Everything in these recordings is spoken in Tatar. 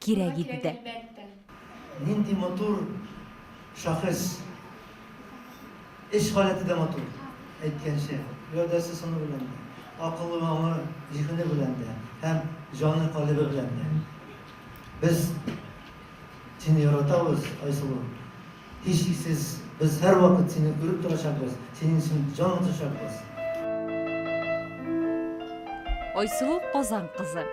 Кирәк иде дә. Нинди матур шәхес. Эш халәте дә матур, әйткәнчә, гәүдәсе сыны белән дә, акылы, аңы, зиһене белән дә һәм җаны, калебе белән дә. Без сине яратабыз, Айсылу. Һичшиксез, без һәрвакыт сине күреп торачакбыз, синең өчен җан атачакбыз. Айсылу Казан кызы.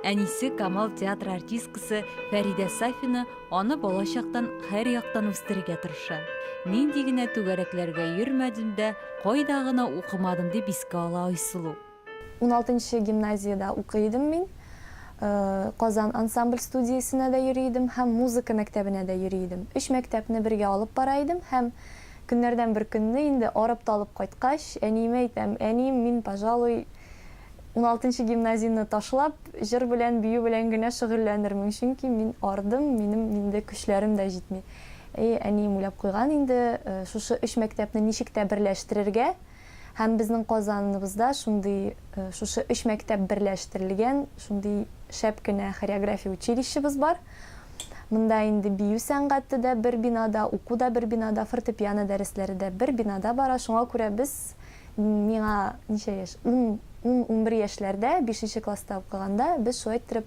Әнисе Камал театры артисткасы Фәридә Сафина аны балачактан һәр яктан үстерергә тырыша. Нинди генә түгәрәкләргә йөрмәдем дә, кайда гына укымадым, дип искә ала Айсылу. Уналтынчы гимназиядә укый идем мин. Казан ансамбль студиясенә дә йөри идем һәм музыка мәктәбенә дә йөри идем. Өч мәктәпне бергә алып бара идем һәм көннәрдән бер көнне, инде арып-талып кайткач, әниемә әйтәм, Әнием, мин, пожалуй, уналтынчы гимназияне ташлап, җыр белән, бию белән генә шөгыльләнермен, чөнки мин ардым, минем инде көчләрем дә җитми. Әйе, әнием уйлап куйган инде, шушы өч мәктәпне ничек тә берләштерергә. Һәм безнең Казаныбызда шундый, шушы өч мәктәп берләштерелгән шундый шәп кенә хореография училищебыз бар. Монда инде бию сәнгате дә бер бинада, уку да бер бинада, фортепиано дәресләре дә бер бинада бара. Шуңа күрә без, миңа ничә яшь, ун, ун-унбер яшьләрдә, бишенче класста укыганда, без шулай иттереп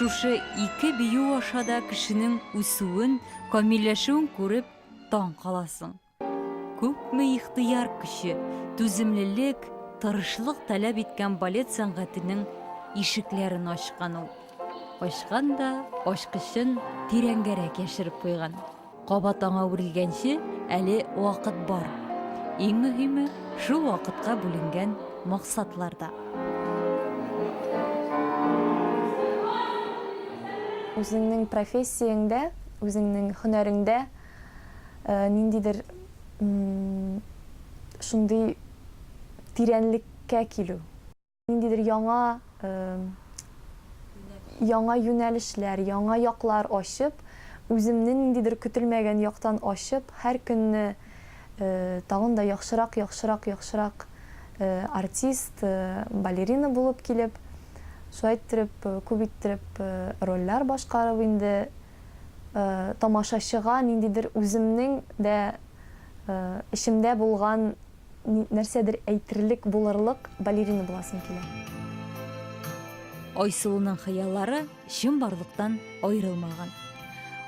Шушы ике бию аша да кешенең үсүен, камилләшүен күреп таң каласың. Күпме ихтыяр көче, түземлелек, тырышлык таләп иткән балет сәнгатенең ишекләрен ачкан ул. Ачкан да ачкычын тирәнгәрәк яшереп куйган. Кабат аңа үрелгәнче әле вакыт бар. Иң мөһиме, шул вакытка бүленгән максатларда. Үзеңнең профессияңдә, үзеңнең һөнәреңдә ниндидер шундый тирәнлеккә килү. Ниндидер яңа яңа юнәлешләр, яңа яклар ачып, үземне ниндидер көтелмәгән яктан ачып, һәр көнне тагын да яхшырак, яхшырак, яхшырак артист, балерина булып килеп, шулай иттереп, күп иттереп рольләр башкарып инде тамашачыга ниндидер үземнең дә эчемдә булган нәрсәдер әйтерлек, булырлык балерина буласым килә. Айсылуның хыяллары чынбарлыктан аерылмаган.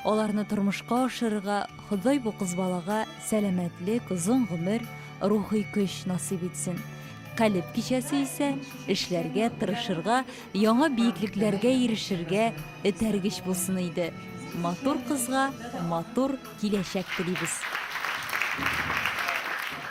Аларны тормышка ашырырга Ходай бу кыз балага сәламәтлек, озын гомер, рухи көч насыйп итсен. Калеб кичәсе исә эшләргә, тырышырга, яңа биеклекләргә ирешергә этәргеч булсын иде. Матур кызга матур киләчәк телибез.